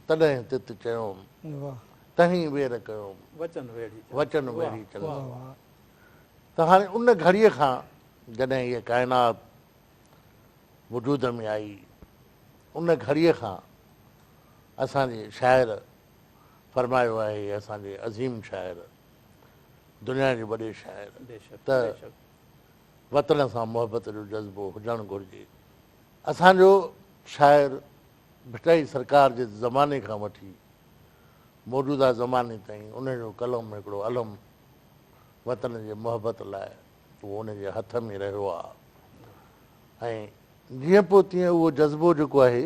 تڏهن تت چيوم تهين وير ڪيوم وچن ويڙهي چلسين ته هاڻي ان گهڙي کان جڏهن هيء ڪائنات وجود ۾ آئي، ان گهڙيء کان اسان جي شاعر فرمايو آهي هي اسان جي عظيم شاعر، دنيا جي وڏي شاعر ته وطن سان محبت جو جذبو هجڻ گهرجي. اسان جو شاعر ڀٽائي سرڪار جي زماني کان وٺي موجوده زماني تائين ان جو قلم هڪڙو علم وطن جي محبت لاء اهو ان جي هٿ ۾ رهيو آ ۽ جيئن پوء تيئن اهو جذبو جيڪو آهي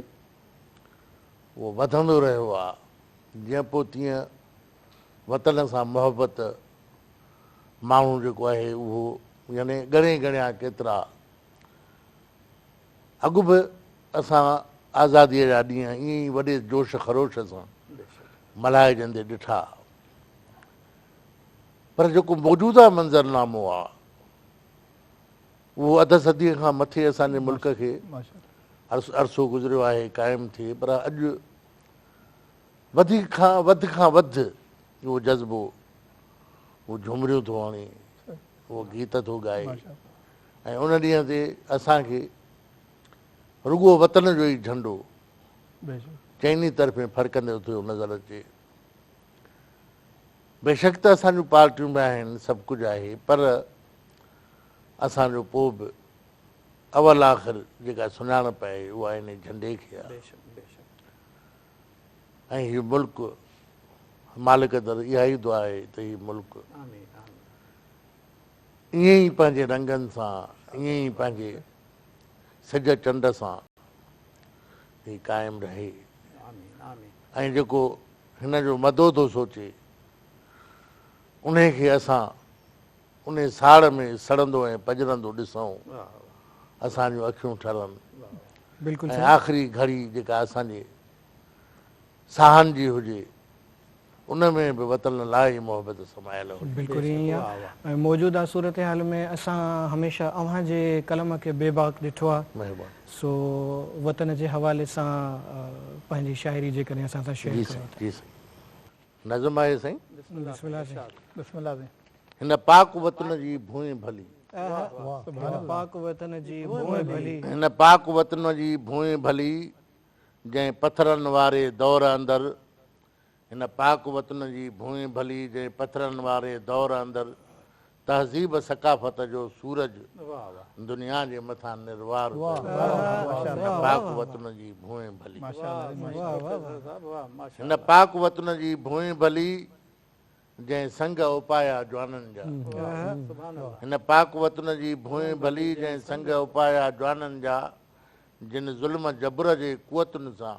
اهو وڌندو رهيو آ جيئن پوء تيئن وطن سان محبت ماڻهو جيڪو آهي اهو يعني ڳڻي ڳڻيا ڪيترا اڳ به اسان آزاديء جا ڏينهن ائين ئي وڏي جوش خروش سان ملهائجندي ڏٺا پر جيڪو موجوده منظرنامو آ اهو اڌ صديء کان مٿي اسان جي ملڪ کي عرصو گذريو آهي قائم ٿئي پر اڄ وڌيڪ کان وڌ کان وڌ اهو جذبو اهو جهمريون ٿو هڻي اهو گيت ٿو ڳائي ۽ ان ڏينهن تي اسان کي رڳو وطن جو ئي جهنڊو چئني طرفين ڦڙڪندي ٿيو نظر اچي بيشڪ ته اسان جون پارٽيون به آهن، سڀ ڪجهه آهي، پر اسان جو پوء به اول آخر جيڪا سڃاڻپ آهي اها انهي جهنڊي کي آهي ۽ هي ملڪ مالڪ در اها ئي دعا آهي ته هي ملڪ ائين ئي پنهنجي رنگن سان ائين ئي پنهنجي سج چنڊ سان هي قائم رهي ۽ جيڪو هن جو مدو ٿو سوچي، انهي کي اسان انهي ساڙ ۾ سڙندو ۽ پڄرندو ڏسئون، اسان جون اکيون ٺرن ۽ آخري گهڙي جيڪا اسان جي ساهن جي هجي، ان ۾ به وطن لاء ئي محبت سمايل هجي. بلڪل ائين ئي آهي. موجوده صورتحال ۾ اسان هميشه اوهان جي قلم کي بي باڪ ڏٺو آهي. مهرباني. سو وطن جي حوالي سان پنهنجي شاعري جيڪڏهن اسان سان شيئر ڪريو ته. جي سائين جي سائين نظم آهي سائين. بسم الله سائين بسم الله سائين. هن پاڪ وطن جي ڀونء ڀلي. هن پاڪ وطن جي ڀونء ڀلي. هن پاڪ وطن جي ڀونء ڀلي جنهن پٿرن واري دور اندر. هن پاڪ وطن جي ڀونء ڀلي جنهن پٿرن واري دور اندر تهذيب ثقافت جو سورج دنيا جي مٿان نروار هن پاڪ وطن جي ڀونء ڀلي جنهن سنگ اپايا جوانن جا هن پاڪ وطن جي ڀونء ڀلي جنهن سنگ اپايا جوانن جا جن ظلم جبر جي قوتن سان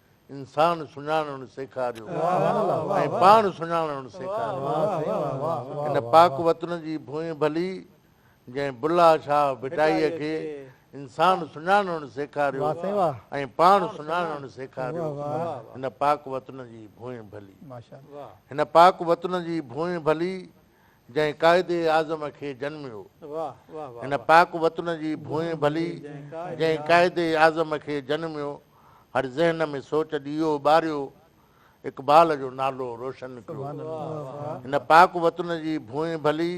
انسان سڃاڻڻ سيکاريو ۽ پاڻ سڃاڻڻ سيکاريو. ان پاڪ وطن جي ڀونء ڀلي جنهن بلهه شاهه ڀٽائيء کي انسان سڃاڻڻ سيکاريو ۽ پاڻ سڃاڻڻ سيکاريو. هن پاڪ وطن جي ڀونء ڀلي. هن پاڪ وطن جي ڀونء ڀلي. جنهن قائد اعظم کي جنميو. هن پاڪ وطن جي ڀونء ڀلي، جنهن قائد اعظم کي جنميو. هر ذهن ۾ سوچ ڏيئو ٻاريو، اقبال جو نالو روشن ڪيو. هن پاڪ وطن جي ڀونء ڀلي،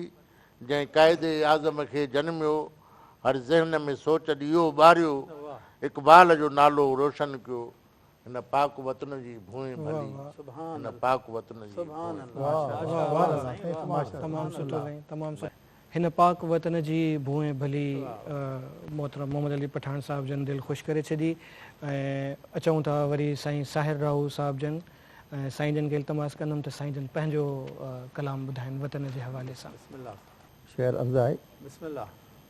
جنهن قائد اعظم کي جنميو. هر ذهن ۾ سوچ ڏيئو ٻاريو، اقبال جو نالو روشن ڪيو. هن پاڪ وطن جي ڀونء ڀلي هن پاڪ وطن جي ڀونء. هن پاڪ وطن جي ڀونء ڀلي محترم محمد علي پٺاڻ صاحب جن دل خوش ڪري ڇڏي ۽ اچون ٿا وري سائين ساحر راهو صاحب جن سائين جن کي التماس ڪندم ته سائين جن پنهنجو ڪلام ٻڌائن وطن جي حوالي سان. شعر عرض آهي.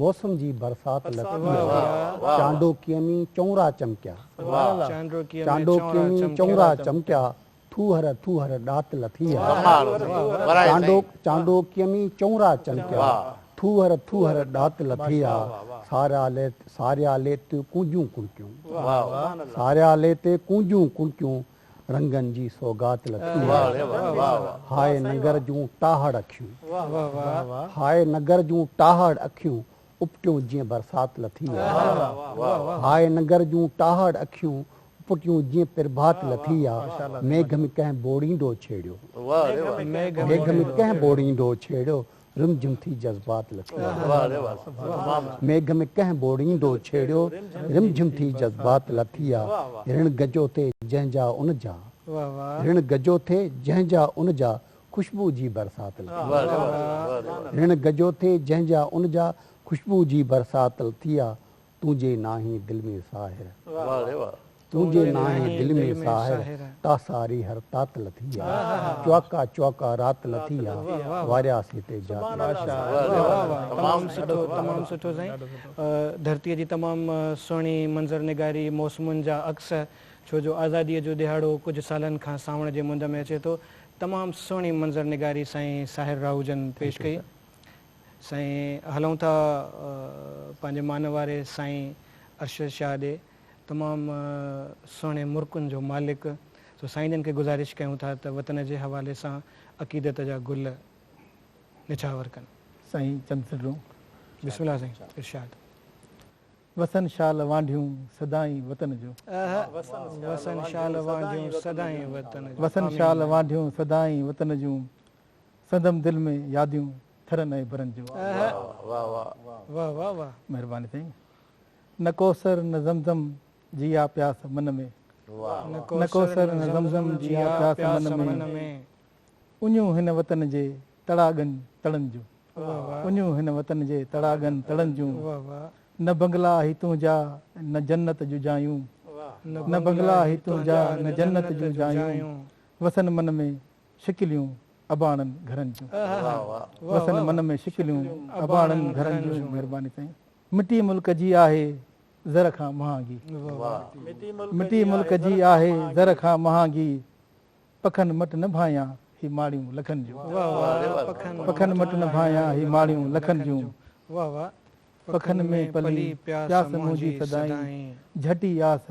موسم جي برسات لٿي هئا، چانڊوڪيء ۾ چؤنرا چمڪيا، چانڊوڪيء ۾ چؤنرا چمڪيا، ٿوهر ٿوهر ڏات لٿي هئا، چانڊوڪيء ۾ چؤنرا چمڪيا، ٿوهر ٿوهر ڏات لٿي هئا، ساريالي تي ڪونجون ڪڻڪيون، ساريالي تي ڪونجون ڪڻڪيون، رنگن جي سوغات لٿي آهي هاء ننگر جون ٽاهڙ اکيون هاء ننگر جون ٽاهڙ اکيون اپٽيون جيئن برسات لٿي آهي هاء ننگر جون ٽاهڙ اکيون اپٽيون جيئن پرڀات لٿي آهي ميگهه ۾ ڪنهن بوڙيندو ڇيڙيو ميگهه ۾ ڪنهن بوڙيندو ڇيڙيو رم جم ٿي جذبات لٿي آ ميگهه ۾ ڪنهن ٻوڙيندو ڇيڙيو رم جم ٿي جذبات لٿي آ رڻ گجو ٿي جنهن جا ان جا رڻ گجو ٿي جنهن جا ان جا خوشبو جي برسات لٿي آ رڻ گجو ٿي جنهن جا ان جا خوشبو جي برسات لٿي آ تون جي ناهين دل ۾ ساهر. واهه ري واهه. تون جي ناهين دل ۾ ساهر. تا ساري هر تات لٿي آ. چوئڪا چوئڪا رات لٿي آ. وارياس هتي جات لٿي آ. ماشاء الله تمام سٺو تمام سٺو سائين ڌرتي جي تمام سهڻي منظر نگاري موسمن جا عڪس ڇو جو آزادي جو ڏهاڙو ڪجهه سالن کان سانوڻ جي مند ۾ اچي ٿو تمام سهڻي منظر نگاري سائين ساحر راهوجن پيش ڪئي. سائين هلون ٿا پنهنجي مان واري سائين ارشد شاهه ڏي تمام سهڻي مرڪن جو مالڪ سو سائين جن کي گذارش ڪيون ٿا ته وطن جي حوالي سان عقيدت جا گل نڇاور ڪن. سائين چند سٽون. بسم الله سائين ارشاد. وسن شال وانڍيون سدائين وطن جو. وسن شال وانڍيون سدائين وطن جو. وسن شال وانڍيون سدائين وطن جون. سندم دل ۾ ياديون ٿرن ۽ برن جو آهه. مهرباني سائين نه ڪوثر نه زمزم جي آ پياس من ۾. نه ڪوثر نه زمزم جي آ پياس من ۾. اڃون هن وطن جي تڙاڳن تڙن جون. اڃون هن وطن جي تڙاڳن تڙن جون. نه بنگلا هي تنهنجا نه جنت جون جايون. نه بنگلا هي تنهنجا نه جنت جون جايون. وسن من ۾، شڪليون اباڻن گهرن جون. وسن من ۾ شڪليون اباڻن گهرن جون مهرباني سائين. مٽي ملڪ جي آهي زر کان مهانگي. مٽي ملڪ جي آهي زر کان مهانگي. پکن مٽ نه ڀانيان هي ماڙيون لکن جون. پکن مٽ نه ڀانيان هي ماڙيون لکن جون. پکن ۾ پلي پياس منهنجي سدائين. جهٽي آس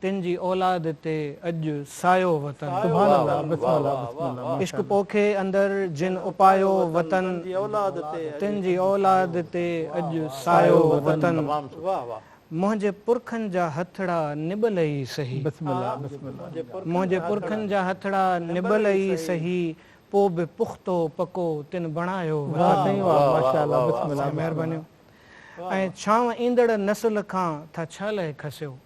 تن جي اولاد تي اڄ سايو وطن. سبحان الله بسم الله بسم الله ماشاء عشق الله. پوکي اندر جن اپايو وطن. تن جي اولاد تي اڄ سايو وطن. منهنجي پرکن جا هٿڙا نٻل ئي سهي. بسم الله بسم الله. منهنجي پرکن جا هٿڙا نٻل ئي سهي پو به پختو پڪو تن بڻايو وطن. واھ سائين واھ ماشاء الله بسم الله. سائين مهربانيون ۽ ڇانو ايندڙ نسل کان ٿا ڇا لئي کسيو.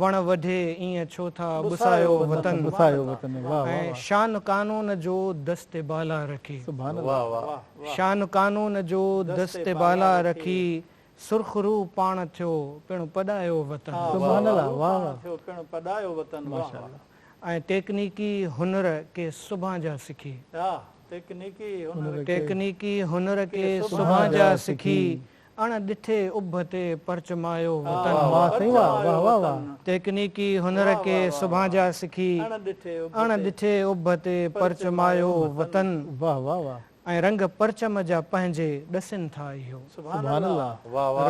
وڻ وڍي ايئن ڇو ٿا ٻسايو وطن ۽ شان قانون جو دست بالا رکي شان قانون جو دست بالا رکي سرخ روح پاڻ ٿيو پڻ پڏايو وطن ۽ ٽيڪنيڪي هنر ڪي سڀان جا سکي ٽيڪنيڪي هنر ڪي سڀان جا سکي اڻ ڏٺي اڀ تي پرچمايو وطن. واھ سائين واھ واھ واھ واھ. تيڪنيڪي هنر ڪي سڀان جا سکي. اڻ ڏٺي اڀ تي پرچمايو وطن. واھ واھ واھ. ۽ رنگ پرچم جا پنهنجي ڏسين ٿا اهو. سبحان الله.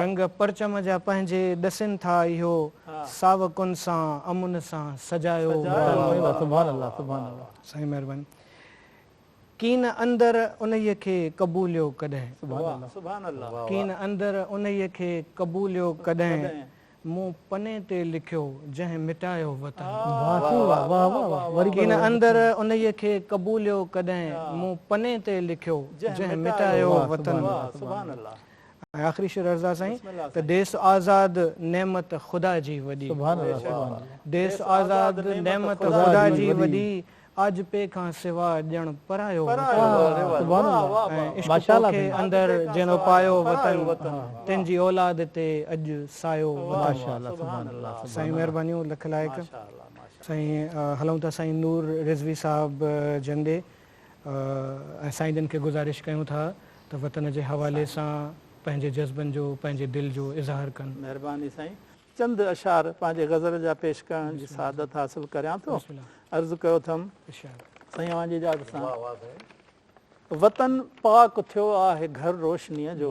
رنگ پرچم جا پنهنجي ڏسين ٿا اهو. ساوڪن سان امن سان سجايو وطن. سبحان الله سبحان الله. سائين مهرباني. ڪين اندر انهيء کي قبوليو ڪڏهن. سبحان الله. ڪين اندر انهيء کي قبوليو ڪڏهن. مون پني تي لکيو جنهن مٽايو وطن. ڪين اندر انهيء کي قبوليو ڪڏهن. مون پني تي لکيو جنهن مٽايو وطن. ۽ آخري شعر عرض آ سائين ته ديس آزاد نعمت خدا جي وڏي. ديس آزاد نعمت خدا جي وڏي. آجپي کان سوا ڄڻ پرايو وطن ۽ عشق توکي اندر جنھن اپايو وطن تنھن جي اولاد تي اڄ سايو وطن سائين مھربانيون لک لائق سائين ھلون ٿا سائين نور رضوي صاحب جن ڏي ۽ سائين جن کي گذارش ڪيون ٿا ته وطن جي حوالي سان پنھنجي جذبن جو پنھنجي دل جو اظھار ڪن. مھرباني سائين. چند اشعار پنهنجي غزل جا پيش ڪرڻ جي سعادت حاصل ڪريان ٿو. عرض ڪيو اٿم سائين اوهان جي اجازت سان. وطن پاڪ ٿيو آهه گهر روشنيء جو.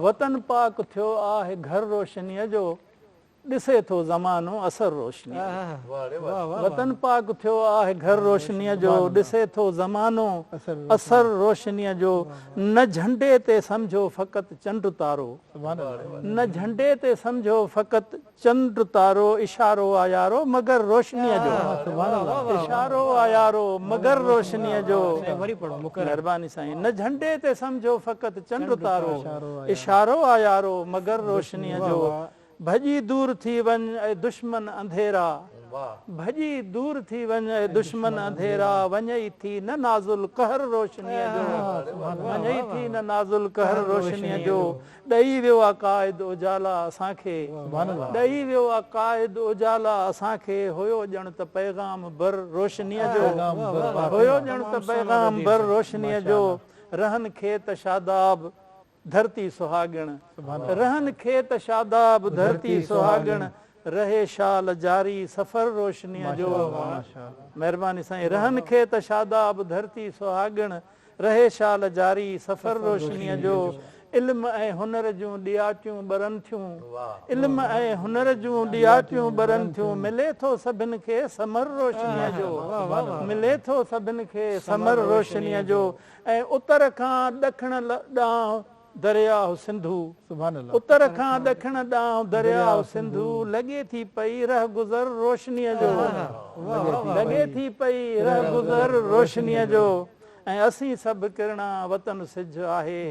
وطن پاڪ ٿيو آهه گهر روشنيء جو. ڏسي ٿو زمانو اثر روشنيء جو. وطن پاڪ ٿيو آهه گهر روشنيء جو. ڏسي ٿو زمانو اثر روشنيء جو. نه جهنڊي تي سمجهو فقط چنڊ تارو. نه جهنڊي تي سمجهو فقط چنڊ تارو اشارو آ يارو مگر روشنيء جو اشارو آ يارو مگر روشنيء جو مهرباني سائين نه جهنڊي تي سمجهو فقط چنڊ تارو اشارو آ يارو مگر روشنيء جو ڀڄي دور ٿي وڃ اي دشمن انڌيرا. ڀڄي دور ٿي وڃ اي دشمن انڌيرا وڃئي ٿي نه نازل قهر روشنيء جو وڃئي ٿي نه نازل قهر روشنيء جو ڏئي ويو آ قائد اجالا اسان کي ڏئي ويو آ قائد اجالا اسان کي هيو ڄڻ ته پيغام بر روشنيء جو هيو ڄڻ ته پيغام بر روشنيء جو رهن کي ته شاداب ڌرتي سهاڳڻ رهن کيت شاداب ڌرتي سهاڳڻ رهي شال جاري سفر روشنيء جو مهرباني سائين رهن کيت شاداب ڌرتي سهاڳڻ رهي شال جاري سفر روشنيء جو علم ۽ هنر جون ڏياٽيون ٻرن ٿيون علم ۽ هنر جون ڏياٽيون ٻرن ٿيون ملي ٿو سڀن کي ثمر روشنيء جو ملي ٿو سڀن کي ثمر روشنيء جو ۽ اتر کان ڏکڻ ڏانهن درياهه سنڌو. اتر کان ڏکڻ ڏانهن درياهه سنڌو لڳي ٿي پئي رهگذر روشنيء جو. لڳي ٿي پئي رهگذر روشنيء جو ۽ اسين سڀ ڪرڻا وطن سج آهي.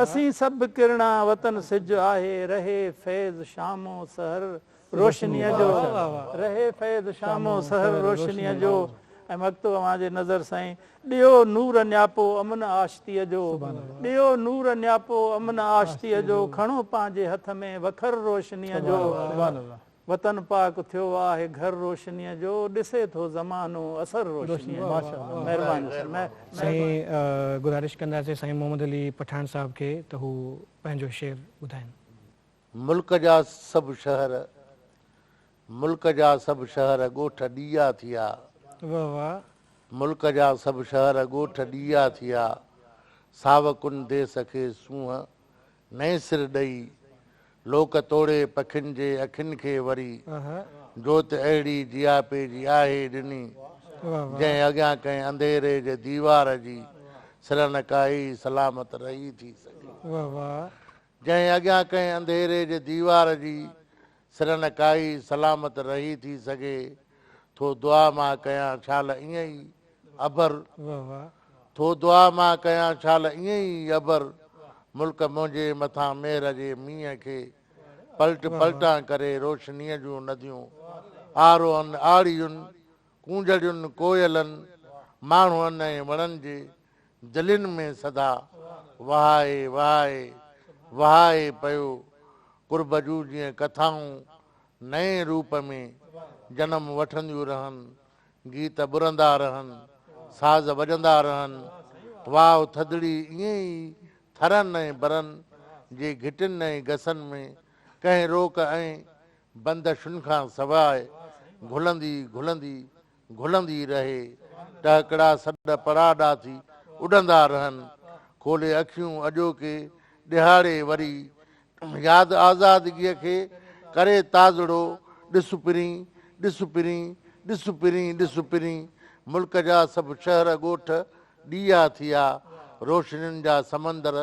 اسين سڀ ڪرڻا وطن سج آهي رهي فيض شامون سحر روشنيء جو، رهي فيض شام و سحر روشنيء جو ۽ مگتو اوهان جي نظر سائين ڏيو نور نياپو امن آشتيء جو ڏيو نور نياپو امن آشتيء جو کڻو پنهنجي هٿ ۾ وکر روشنيء جو وطن پاڪ ٿيو آهي گهر روشنيء جو ڏسي ٿو زمانو اثر روشنيء جو مهرباني سائين گذارش ڪنداسين سائين محمد علي پٺاڻ صاحب کي ته هو پنهنجو شعر ٻڌائين. ملڪ جا سڀ شهر ملڪ جا سڀ شهر ڳوٺ ڏيئا ٿيا واھ واھ. ملڪ جا سڀ شهر ڳوٺ ڏيئا ٿيا ساوڪن ديس کي سونهن نئين سر ڏئي لوڪ توڙي پکين جي اکين کي وري آها. جوت اهڙي جياپي جي آهي ڏني واھ واھ. جنهن اڳيان ڪنهن انڌيري جي ديوار جي سرنڪائي سلامت رهي ٿي سگهي. واھ واھ. جنهن اڳيان ڪنهن انڌيري جي ديوار جي سرن ڪائي سلامت رهي ٿي سگهي ٿو دعا مان ڪيان شال ائين ئي ابر ٿو دعا مان ڪيان شال ائين ئي ابر ملڪ منهنجي مٿان مهر جي مينهن کي پلٽ پلٽان ڪري روشنيء جون نديون آرون آڙيون ڪونجهڙين ڪوئلن، ماڻهن ۽ وڻن جي جلين ۾ صدا وهائي وهائي وهائي پيو قرب جون جيئن ڪٿائون نئين روپ ۾ جنم وٺنديون رهن، گيت ٻرندا رهن، ساز وڄندا رهن، واء ٿڌڙي ائين ئي ٿرن ۽ برن جي گهٽين ۽ گسن ۾ ڪنهن روڪ ۽ بندشن کان سواء گهلندي گهلندي گهلندي رهي ٽهڪڙا سڏ پڙا ڏاٿي اڏندا رهن کولي اکيون اڄوڪي ڏهاڙي وري ياد آزادگي کي ڪري تازڙو ڏس پرين ڏس پرين ڏس پرين ڏس پرين ملڪ جا سڀ شهر ڳوٺ ڏيئا ٿيا روشنين جا سمندر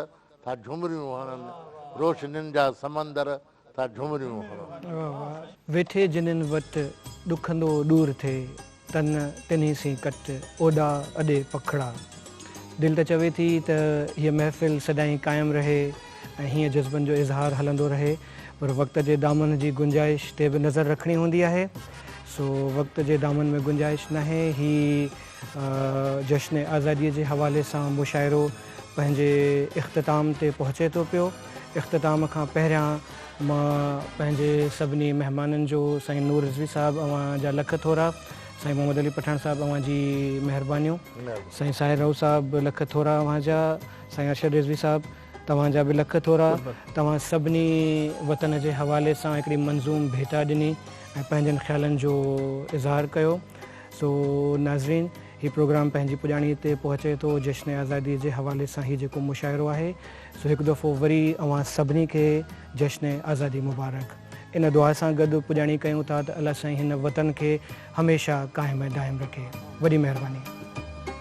ٿا جهومريون هڻن روشنين جا سمندر ٿا جهومريون هڻن. ويٺي جنھن وٽ، ڏکندو ڏور ٿئي تن، تنھي سين ڪٽ، اوڏا اڏي پکڙا. دل ته چوي ٿي ته هيء محفل سدائين قائم رهي ۽ هيئن جذبن جو اظهار هلندو رهي، پر وقت جي دامن جي گنجائش تي به نظر رکڻي هوندي آهي، سو وقت جي دامن ۾ گنجائش ناهي، هي. جشن آزاديء جي حوالي سان مشاعرو پنهنجي اختتام تي پهچي ٿو پيو. اختتام کان پهريان مان پنهنجي سڀني مهمانن جو سائين نور رضوي صاحب اوهان جا لک ٿورا، سائين محمد علي پٺاڻ صاحب اوهان جي مهربانيون، سائين ساحر رئو صاحب لک ٿورا اوهان جا، سائين ارشد رضوي صاحب توهان جا به لک ٿورا، توهان سڀني وطن جي حوالي سان هڪڙي منظوم ڀيٽا ڏني ۽ پنهنجن خيالن جو اظهار ڪيو. سو ناظرين هي پروگرام پنهنجي پڄاڻي تي پهچي ٿو جشن آزادي جي حوالي سان هي جيڪو مشاعرو آهي سو هڪ دفعو وري اوهان سڀني کي جشن آزادي مبارڪ ان دعا سان گڏ پڄاڻي ڪيون ٿا ته الله سائين هن وطن کي هميشه قائم ۽ دائم رکي وڏي مهرباني.